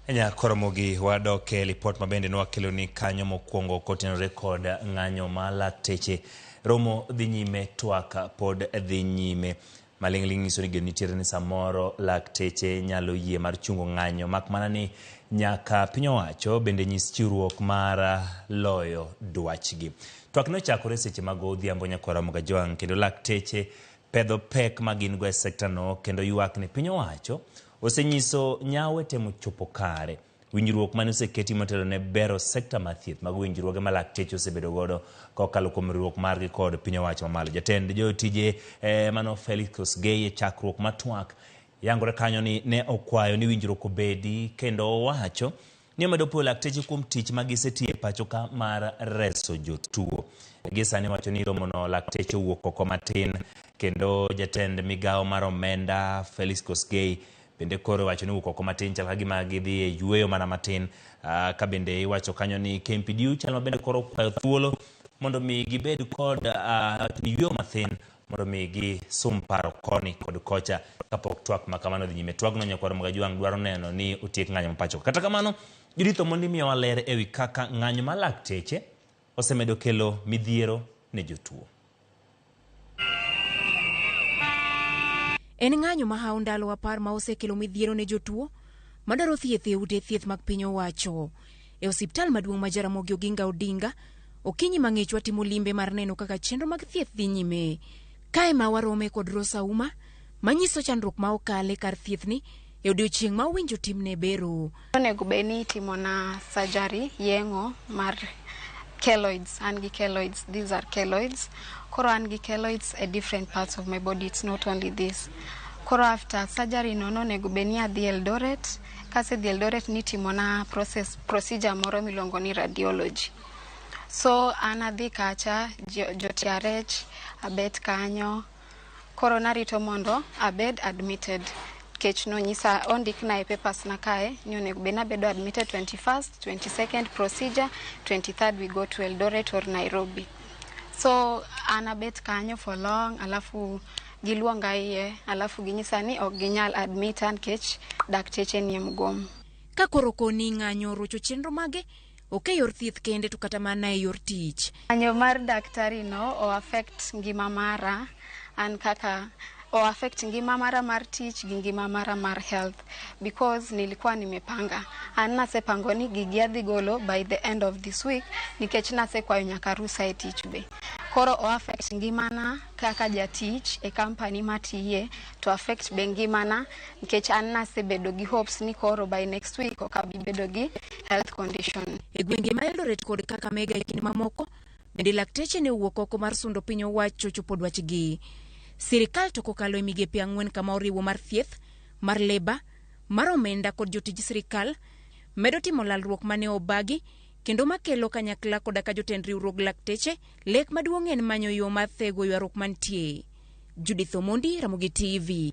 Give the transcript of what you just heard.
Anya koro mogi wadok e lipot mabende nwakeloni kanyo mokwongo kotenore kod ng'anyo ma lakteche. Romo dhi nyime, twak pod dhi nyime. Maling'ling' nyiso ni geno nitiere ni samoro lakteche nyalo yie mar chungo ng'anyo mak mana ni nyaka piny owacho bende nyis chiwruok mar loyo dwachgi. Twak nochakore seche mag odhiambo nyako Ramogi Ajwang' kendo lakteche pedho pek ma gin go e sektano kendo ywak ni piny owacho Osenyiso nyawo e temo chopo kare. Winjruok mane oseketi motelo ne bero sekta mar thieth mago winjruoge ma lakteche osebedo godo kokalo kuom riwruok margi kod piny owacho mamalo. Jatend jotije eh, mano Felix Kosgei e chakruok mar twak yangore kanyo ni ne okwayo ni winjruok obedi kendo owacho ni omedo puoyo lakteche kuom tich ma gisetiyo e pachoka mar reso jotuo. Gi sani wacho ni romono lakteche owuok oko matin kendo jatend migawo mar omenda Felix Kosgei bende koro iwacho ni owuok oko matin chal ka gima gidhi e yueyo mana matin Ah, ka bende iwacho kanyo ni KMPDU chal ma bende koro kwayo thuolo mondo mi gibed kod ah, yueyo mathin mondo mi gisum paro koni kod kocha kapok twak ma kamano dhi nyime. Twagno nyakwar Magajwang' dwaro neno ni otiek ng'anyo ma pachoka. Kata kamano, Judith Omondi miyowa ler e wi kaka ng'anyo ma lakteche osemedo kelo midhiero ne jotuo. En ng'anyo ma hawo ndalo apar ma osekelo midhiero ne jotuo madwaro thieth e ute thieth mag piny owacho. E osiptal maduong' ma Jaramogi Oginga Odinga, okinyi mang'ich watimo limbe mar neno kaka chenro mag thieth dhi nyime. Kae ma warome kod Rose Auma manyiso chandruok ma okale kar thiethni e odiochieng' ma owinjo timne bero. Onego bed ni itimona surgery, yeng'o mar keloids. An gi keloids, these are keloids. Koro an gi keloids e different parts of my body, it's not only this. Koro after surgery no nonego bed ni adhi Eldoret. Kasedhi Eldoret nitimona process, procedure moro miluongo ni radiology. So an adhi kacha jo- jotiarech abet kanyo koro narito mondo abed admitted kech nonyisa ondikna e papers na kae ni onego bed nabedo admitted 21st 22nd procedure 23rd we go to eldoret or nairobi so an abet kanyo for long alafu Giluonga iye alafu ginyisa ni ok ginyal admita nkech dakteche nie mgomo. Ka koro okoni ng'anyo orocho chenro mage, ok e yor thieth kende to kata mana e yor tich. Ng'anyo mar daktari no o affect ngima mara an kaka o affect ngima mara mar tich gi ngima mara mar health because nilikuwa nimepanga. An nasepango ni gigi adhi golo by the end of this week nikech nasekwayo nyaka rusa e tich be. Koro o affect ngimana kaka jatich e company matiye to affect be ngimana nikech an nasebedo gi hopes ni koro by next week ok abi bedo gi health condition. E gwenge ma Eldoret kod Kakamega e kind mamoko, bende lakteche ne owuok oko mar sundo piny owacho chopo dwachgi. Sirikal to kokalo e migepe ang'wen kama oriwo mar thieth, mar leba, mar omenda kod jotij sirikal, medo timo lalruok mane obagi kendo makelo kanyakla koda ka jotend riwruog lakteche, lek maduong' en manyo yo mar thego ywaruok mantie. Judith Omondi, Ramogi TV.